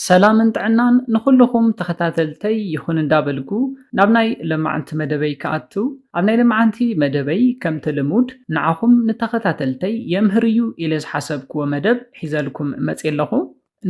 ሰላምን ጥዕናን ንኹሉኹም ተኸታተልተይ ይኹን እንዳበልኩ ናብ ናይ ለማዕንቲ መደበይ ክኣቱ ኣብ ናይ ለማዓንቲ መደበይ ከምቲ ልሙድ ንዓኹም ንተኸታተልተይ የምህር እዩ ኢለ ዝሓሰብክዎ መደብ ሒዘልኩም መጽየ ኣለኹ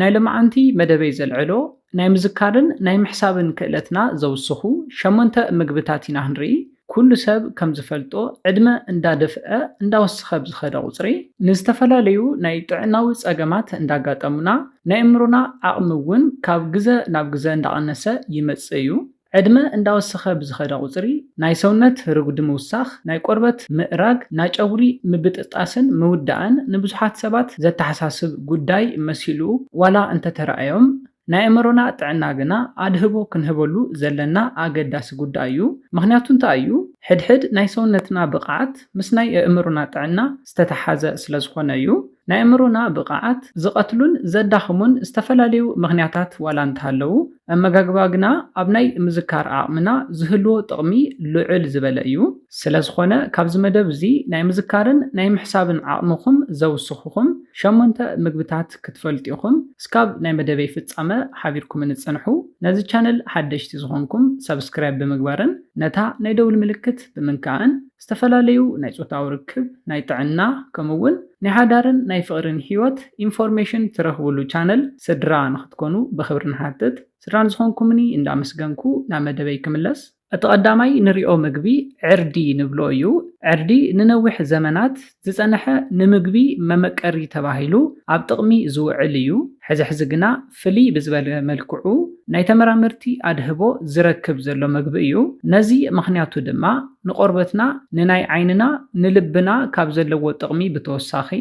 ናይ ለማዓንቲ መደበይ ዘልዕሎ ናይ ምዝካርን ናይ ምሕሳብን ክእለትና ዘውስኹ ሸሞንተ ምግብታት ኢና ክንርኢ ኩሉ ሰብ ከም ዝፈልጦ ዕድመ እንዳደፍኣ እንዳወሰኸ ብዝኸደ ቁፅሪ ንዝተፈላለዩ ናይ ጥዕናዊ ፀገማት እንዳጋጠሙና ናይ ኣእምሮና ዓቕሚ እውን ካብ ግዘ ናብ ግዘ እንዳቐነሰ ይመፅእ እዩ። ዕድመ እንዳወሰኸ ብዝኸደ ቁፅሪ ናይ ሰውነት ርጉዲ ምውሳኽ፣ ናይ ቆርበት ምእራግ፣ ናጨጉሪ ምብጥጣስን ምውዳእን ንብዙሓት ሰባት ዘተሓሳስብ ጉዳይ መሲሉ ዋላ እንተተረኣዮም፣ ናይ ኣእምሮና ጥዕና ግና ኣድህቦ ክንህበሉ ዘለና ኣገዳሲ ጉዳይ እዩ። ምኽንያቱ እንታይ እዩ? ሕድሕድ ናይ ሰውነትና ብቕዓት ምስ ናይ ኣእምሮና ጥዕና ዝተተሓሓዘ ስለዝኾነ እዩ። ናይ ኣእምሮና ብቕዓት ዝቐትሉን ዘዳኽሙን ዝተፈላለዩ ምኽንያታት ዋላ እንተሃለዉ፣ ኣመጋግባ ግና ኣብ ናይ ምዝካር ዓቕምና ዝህልዎ ጥቕሚ ልዑል ዝበለ እዩ። ስለዝኾነ ካብዚ መደብ እዚ ናይ ምዝካርን ናይ ምሕሳብን ዓቕምኹም ዘውስኹኹም ሸሞንተ ምግብታት ክትፈልጡ ኢኹም። እስካብ ናይ መደበይ ፍጻመ ሓቢርኩምኒ ጽንሑ። ነዚ ቻነል ሓደሽቲ ዝኾንኩም ሳብስክራይብ ብምግባርን ነታ ናይ ደውል ምልክት ብምንካእን ዝተፈላለዩ ናይ ጾታዊ ርክብ፣ ናይ ጥዕና ከምኡ ውን ናይ ሓዳርን ናይ ፍቕሪን ሂወት ኢንፎርሜሽን ትረኽብሉ ቻነል ስድራ ንኽትኮኑ ብኽብሪ ንሓትት። ስድራ ንዝኾንኩምኒ እንዳመስገንኩ ናብ መደበይ ክምለስ። እቲ ቐዳማይ ንሪኦ ምግቢ ዕርዲ ንብሎ እዩ። ዕርዲ ንነዊሕ ዘመናት ዝፀነሐ ንምግቢ መመቀሪ ተባሂሉ ኣብ ጥቕሚ ዝውዕል እዩ። ሕዚ ሕዚ ግና ፍልይ ብዝበለ መልክዑ ናይ ተመራመርቲ ኣድህቦ ዝረክብ ዘሎ ምግቢ እዩ። ነዚ ምኽንያቱ ድማ ንቆርበትና፣ ንናይ ዓይንና፣ ንልብና ካብ ዘለዎ ጥቕሚ ብተወሳኺ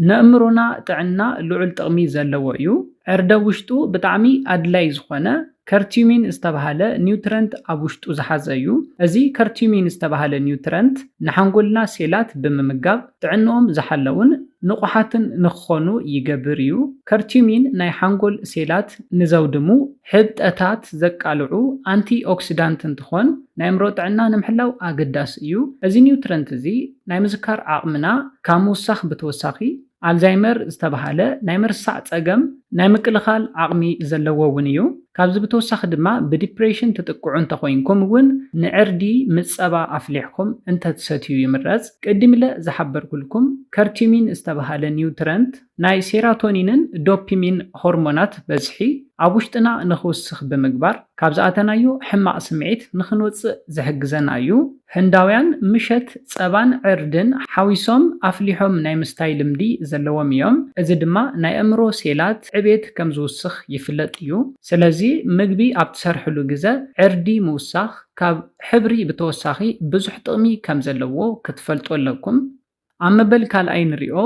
ነእምሮና ጥዕና ልዑል ጥቕሚ ዘለዎ እዩ። ዕርደ ውሽጡ ብጣዕሚ ኣድላይ ዝኾነ ከርቲዩሚን ዝተብሃለ ኒውትረንት ኣብ ውሽጡ ዝሓዘ እዩ። እዚ ከርቲዩሚን ዝተብሃለ ኒውትረንት ንሓንጎልና ሴላት ብምምጋብ ጥዕንኦም ዝሓለዉን ንቑሓትን ንክኾኑ ይገብር እዩ። ከርቲዩሚን ናይ ሓንጎል ሴላት ንዘውድሙ ሕብጠታት ዘቃልዑ ኣንቲ ኦክሲዳንት እንትኾን ናይእምሮ ጥዕና ንምሕላው ኣገዳሲ እዩ። እዚ ኒውትረንት እዚ ናይ ምዝካር ዓቕምና ካብ ምውሳኽ ብተወሳኺ፣ ኣልዛይመር ዝተብሃለ ናይ ምርሳዕ ጸገም ናይ ምክልኻል ዓቕሚ ዘለዎ እውን እዩ። ካብዚ ብተወሳኺ ድማ ብዲፕሬሽን ትጥቅዑ እንተኾይንኩም እውን ንዕርዲ ምጸባ ኣፍሊሕኩም እንተትሰትዩ ይምረጽ። ቅዲምለ ዝሓበርኩልኩም ከርቲሚን ዝተብሃለ ኒውትረንት ናይ ሴራቶኒንን ዶፒሚን ሆርሞናት በዝሒ ኣብ ውሽጥና ንኽውስኽ ብምግባር ካብ ዝኣተናዮ ሕማቕ ስምዒት ንኽንወጽእ ዝሕግዘና እዩ። ህንዳውያን ምሸት ጸባን ዕርድን ሓዊሶም ኣፍሊሖም ናይ ምስታይ ልምዲ ዘለዎም እዮም፣ እዚ ድማ ናይ ኣእምሮ ሴላት ዕቤት ከም ዝውስኽ ይፍለጥ እዩ። ስለዚ ምግቢ ኣብ ትሰርሕሉ ግዘ ዕርዲ ምውሳኽ ካብ ሕብሪ ብተወሳኺ ብዙሕ ጥቕሚ ከም ዘለዎ ክትፈልጡ ኣለኩም። ኣብ መበል ካልኣይ ንሪኦ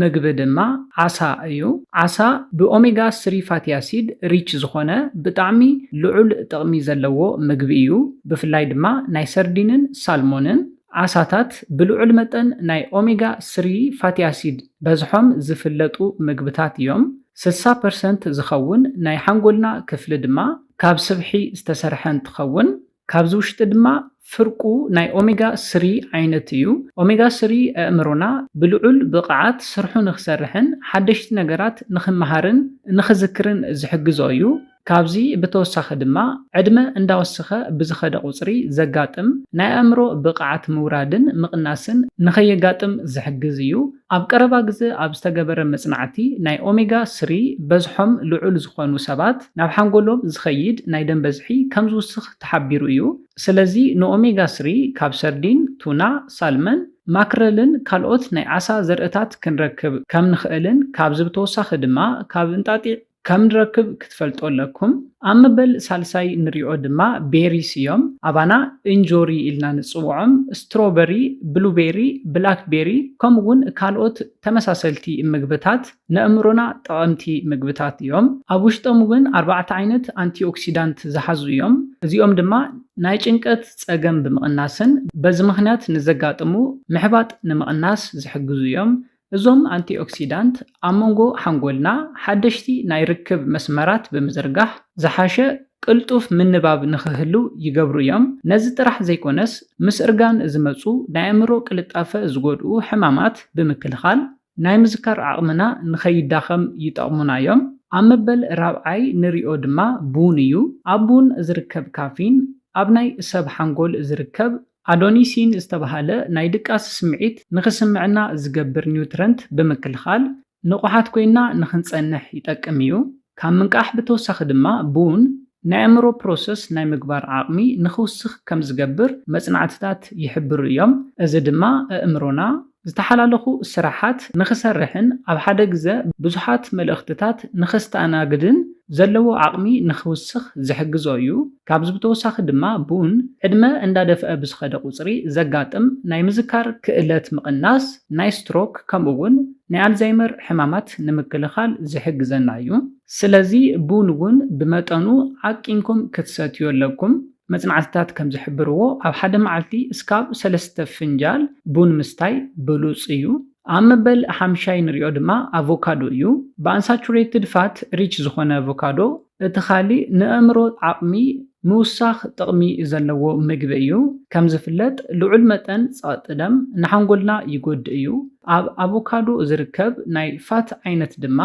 ምግቢ ድማ ዓሳ እዩ። ዓሳ ብኦሜጋ ስሪ ፋቲ ኣሲድ ሪች ዝኾነ ብጣዕሚ ልዑል ጥቕሚ ዘለዎ ምግቢ እዩ። ብፍላይ ድማ ናይ ሰርዲንን ሳልሞንን ዓሳታት ብልዑል መጠን ናይ ኦሜጋ ስሪ ፋቲ ኣሲድ በዝሖም ዝፍለጡ ምግብታት እዮም። ስሳ ፐርሰንት ዝኸውን ናይ ሓንጎልና ክፍሊ ድማ ካብ ስብሒ ዝተሰርሐ እንትኸውን፣ ካብዚ ውሽጢ ድማ ፍርቁ ናይ ኦሜጋ ስሪ ዓይነት እዩ። ኦሜጋ ስሪ ኣእምሮና ብልዑል ብቐዓት ስርሑ ንክሰርሕን ሓደሽቲ ነገራት ንክመሃርን ንክዝክርን ዝሕግዞ እዩ። ካብዚ ብተወሳኺ ድማ ዕድመ እንዳወሰኸ ብዝኸደ ቁፅሪ ዘጋጥም ናይ ኣእምሮ ብቐዓት ምውራድን ምቕናስን ንከየጋጥም ዝሕግዝ እዩ። ኣብ ቀረባ ግዘ ኣብ ዝተገበረ መፅናዕቲ ናይ ኦሜጋ ስሪ በዝሖም ልዑል ዝኾኑ ሰባት ናብ ሓንጎሎም ዝኸይድ ናይ ደም በዝሒ ከምዝውስኽ ተሓቢሩ እዩ። ስለዚ ንኦሜጋ ስሪ ካብ ሰርዲን፣ ቱና፣ ሳልመን፣ ማክረልን ካልኦት ናይ ዓሳ ዘርእታት ክንረክብ ከምንኽእልን ካብዚ ብተወሳኺ ድማ ካብ እንጣጢዕ፣ ከም ንረክብ ክትፈልጦ ኣለኩም። ኣብ መበል ሳልሳይ ንሪኦ ድማ ቤሪስ እዮም። ኣባና እንጆሪ ኢልና ንጽውዖም፣ ስትሮበሪ፣ ብሉቤሪ፣ ብላክ ቤሪ ከምኡ እውን ካልኦት ተመሳሰልቲ ምግብታት ነእምሮና ጠቐምቲ ምግብታት እዮም። ኣብ ውሽጦም እውን ኣርባዕተ ዓይነት ኣንቲኦክሲዳንት ዝሓዙ እዮም። እዚኦም ድማ ናይ ጭንቀት ጸገም ብምቕናስን በዚ ምኽንያት ንዘጋጥሙ ምሕባጥ ንምቕናስ ዝሕግዙ እዮም። እዞም ኣንቲኦክሲዳንት ኣብ መንጎ ሓንጎልና ሓደሽቲ ናይ ርክብ መስመራት ብምዝርጋሕ ዝሓሸ ቅልጡፍ ምንባብ ንኽህልው ይገብሩ እዮም። ነዚ ጥራሕ ዘይኮነስ ምስ እርጋን ዝመጹ ናይ ኣእምሮ ቅልጣፈ ዝጎድኡ ሕማማት ብምክልኻል ናይ ምዝካር ዓቕምና ንኸይዳኸም ይጠቕሙና እዮም። ኣብ መበል ራብዓይ ንሪኦ ድማ ቡን እዩ። ኣብ ቡን ዝርከብ ካፊን ኣብ ናይ ሰብ ሓንጎል ዝርከብ ኣዶኒሲን ዝተበሃለ ናይ ድቃስ ስምዒት ንኽስምዕና ዝገብር ኒውትረንት ብምክልኻል፣ ንቑሓት ኮይንና ንኽንጸንሕ ይጠቅም እዩ። ካብ ምንቃሕ ብተወሳኺ ድማ ቡን ናይ ኣእምሮ ፕሮሰስ ናይ ምግባር ዓቕሚ ንኽውስኽ ከም ዝገብር መጽናዕትታት ይሕብሩ እዮም። እዚ ድማ ኣእምሮና ዝተሓላለኹ ስራሓት ንኽሰርሕን ኣብ ሓደ ግዘ ብዙሓት መልእኽትታት ንኸስተኣናግድን ዘለዎ ዓቕሚ ንኽውስኽ ዝሕግዞ እዩ። ካብዚ ብተወሳኺ ድማ ቡን ዕድመ እንዳደፍኣ ብዝኸደ ቁፅሪ ዘጋጥም ናይ ምዝካር ክእለት ምቕናስ፣ ናይ ስትሮክ ከምኡ እውን ናይ ኣልዛይመር ሕማማት ንምክልኻል ዝሕግዘና እዩ። ስለዚ ቡን እውን ብመጠኑ ዓቂንኩም ክትሰትዩ ኣለኩም። መጽናዕትታት ከም ዝሕብርዎ፣ ኣብ ሓደ መዓልቲ እስካብ ሰለስተ ፍንጃል ቡን ምስታይ ብሉጽ እዩ። ኣብ መበል ሓምሻይ ንሪኦ ድማ ኣቮካዶ እዩ። ብኣንሳቹሬትድ ፋት ሪች ዝኾነ ኣቮካዶ እቲ ካሊእ ንኣእምሮ ዓቕሚ ምውሳኽ ጥቕሚ ዘለዎ ምግቢ እዩ። ከም ዝፍለጥ ልዑል መጠን ጸቕጢ ደም ንሓንጎልና ይጎድእ እዩ። ኣብ ኣቮካዶ ዝርከብ ናይ ፋት ዓይነት ድማ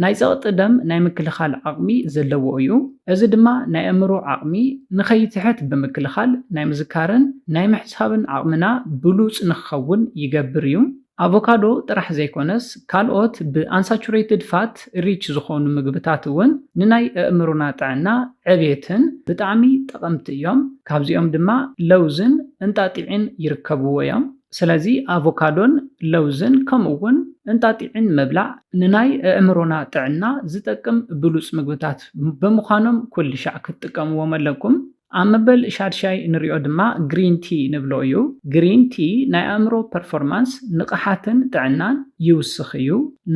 ናይ ጸቕጢ ደም ናይ ምክልኻል ዓቕሚ ዘለዎ እዩ፣ እዚ ድማ ናይ ኣእምሮ ዓቕሚ ንኸይትሕት ብምክልኻል ናይ ምዝካርን ናይ ምሕሳብን ዓቕምና ብሉጽ ንክኸውን ይገብር እዩ። ኣቮካዶ ጥራሕ ዘይኮነስ ካልኦት ብኣንሳቹሬትድ ፋት ሪች ዝኾኑ ምግብታት እውን ንናይ ኣእምሮና ጥዕና ዕቤትን ብጣዕሚ ጠቐምቲ እዮም፣ ካብዚኦም ድማ ለውዝን እንጣጢዕን ይርከብዎ እዮም። ስለዚ ኣቮካዶን ለውዝን ከምኡ'ውን እንጣጢዕን ምብላዕ ንናይ ኣእምሮና ጥዕና ዝጠቅም ብሉጽ ምግብታት ብምዃኖም ኩልሻዕ ክትጥቀምዎም ኣለኩም። ኣብ መበል ሻድሻይ ንሪኦ ድማ ግሪን ቲ ንብሎ እዩ። ግሪን ቲ ናይ ኣእምሮ ፐርፎርማንስ፣ ንቕሓትን ጥዕናን፣ ይውስኽ እዩ።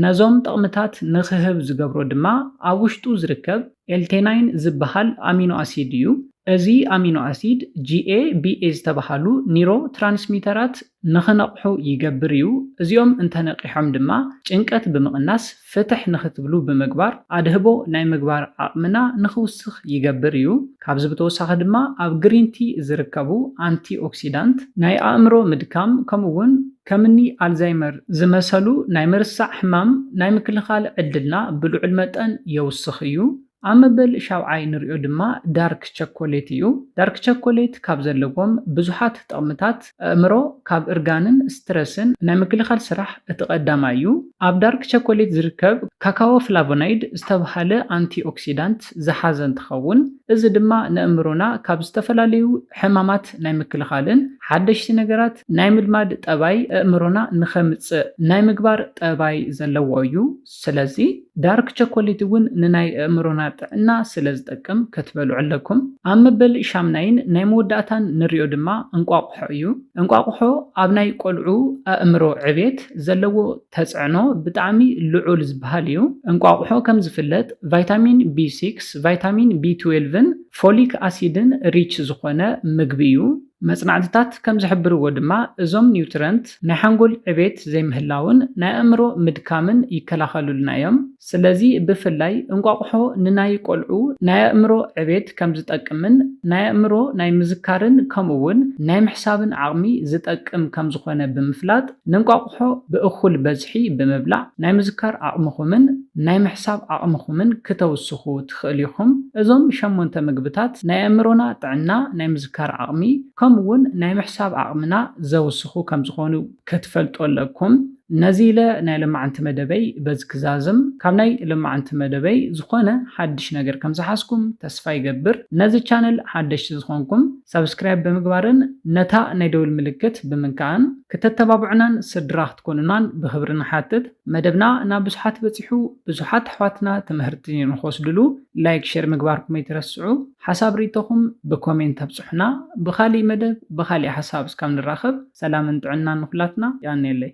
ነዞም ጠቕምታት ንኽህብ ዝገብሮ ድማ ኣብ ውሽጡ ዝርከብ ኤልቴናይን ዝበሃል ኣሚኖ ኣሲድ እዩ። እዚ ኣሚኖ ኣሲድ GABA ዝተበሃሉ ኒሮ ትራንስሚተራት ንኽነቕሑ ይገብር እዩ። እዚኦም እንተነቒሖም ድማ ጭንቀት ብምቕናስ ፍትሕ ንኽትብሉ ብምግባር ኣድህቦ ናይ ምግባር ዓቕምና ንኽውስኽ ይገብር እዩ። ካብዚ ብተወሳኺ ድማ ኣብ ግሪንቲ ዝርከቡ ኣንቲኦክሲዳንት ናይ ኣእምሮ ምድካም ከምኡ'ውን ከምኒ ኣልዛይመር ዝመሰሉ ናይ ምርሳዕ ሕማም ናይ ምክልኻል ዕድልና ብልዑል መጠን የውስኽ እዩ። ኣብ መበል ሻውዓይ ንሪኦ ድማ ዳርክ ቸኮሌት እዩ። ዳርክ ቸኮሌት ካብ ዘለዎም ብዙሓት ጥቕምታት ኣእምሮ ካብ እርጋንን ስትረስን ናይ ምክልኻል ስራሕ እቲ ቀዳማይ እዩ። ኣብ ዳርክ ቸኮሌት ዝርከብ ካካዎ ፍላቮናይድ ዝተብሃለ ኣንቲኦክሲዳንት ዝሓዘ እንትኸውን እዚ ድማ ንኣእምሮና ካብ ዝተፈላለዩ ሕማማት ናይ ምክልኻልን ሓደሽቲ ነገራት ናይ ምልማድ ጠባይ ኣእምሮና ንኸምጽእ ናይ ምግባር ጠባይ ዘለዎ እዩ። ስለዚ ዳርክ ቸኮሊት እውን ንናይ ኣእምሮና ጥዕና ስለ ዝጠቅም ክትበልዑ ኣለኩም። ኣብ መበል ሻምናይን ናይ መወዳእታን ንሪኦ ድማ እንቋቑሖ እዩ። እንቋቑሖ ኣብ ናይ ቆልዑ ኣእምሮ ዕቤት ዘለዎ ተጽዕኖ ብጣዕሚ ልዑል ዝበሃል እዩ። እንቋቑሖ ከም ዝፍለጥ ቫይታሚን ቢ ሲክስ፣ ቫይታሚን ቢ ትዌልቭን፣ ፎሊክ ኣሲድን ሪች ዝኾነ ምግቢ እዩ። መጽናዕትታት ከም ዝሕብርዎ ድማ እዞም ኒውትረንት ናይ ሓንጎል ዕቤት ዘይምህላውን ናይ ኣእምሮ ምድካምን ይከላኸሉልና እዮም። ስለዚ ብፍላይ እንቋቑሖ ንናይ ቆልዑ ናይ ኣእምሮ ዕቤት ከም ዝጠቅምን ናይ ኣእምሮ ናይ ምዝካርን ከምኡ እውን ናይ ምሕሳብን ዓቕሚ ዝጠቅም ከም ዝኾነ ብምፍላጥ ንእንቋቑሖ ብእኹል በዝሒ ብምብላዕ ናይ ምዝካር ዓቕምኹምን ናይ ምሕሳብ ዓቕምኹምን ክተውስኹ ትኽእሉ ኢኹም። እዞም ሸሞንተ ምግብታት ናይ ኣእምሮና ጥዕና፣ ናይ ምዝካር ዓቕሚ፣ ከምኡ'ውን ናይ ምሕሳብ ዓቕምና ዘውስኹ ከም ዝኾኑ ከትፈልጡ ኣለኩም። ነዚ ኢለ ናይ ለማዓንቲ መደበይ በዚ ክዛዝም። ካብ ናይ ለማዓንቲ መደበይ ዝኾነ ሓድሽ ነገር ከም ዝሓዝኩም ተስፋ ይገብር። ነዚ ቻነል ሓደሽቲ ዝኾንኩም ሳብስክራይብ ብምግባርን ነታ ናይ ደውል ምልክት ብምንካእን ክተተባብዑናን ስድራ ክትኮኑናን ብኽብሪ ንሓትት። መደብና ናብ ብዙሓት በጺሑ። ብዙሓት ኣሕዋትና ትምህርቲ ንክወስድሉ ላይክ ሸር ምግባርኩም ኣይትረስዑ ሓሳብ ሪኢቶኹም ብኮሜንት ኣብፁሑና ብኻሊእ መደብ ብኻሊእ ሓሳብ እስካብ ንራኸብ ሰላምን ጥዕናን ንኹላትና የቀንየለይ።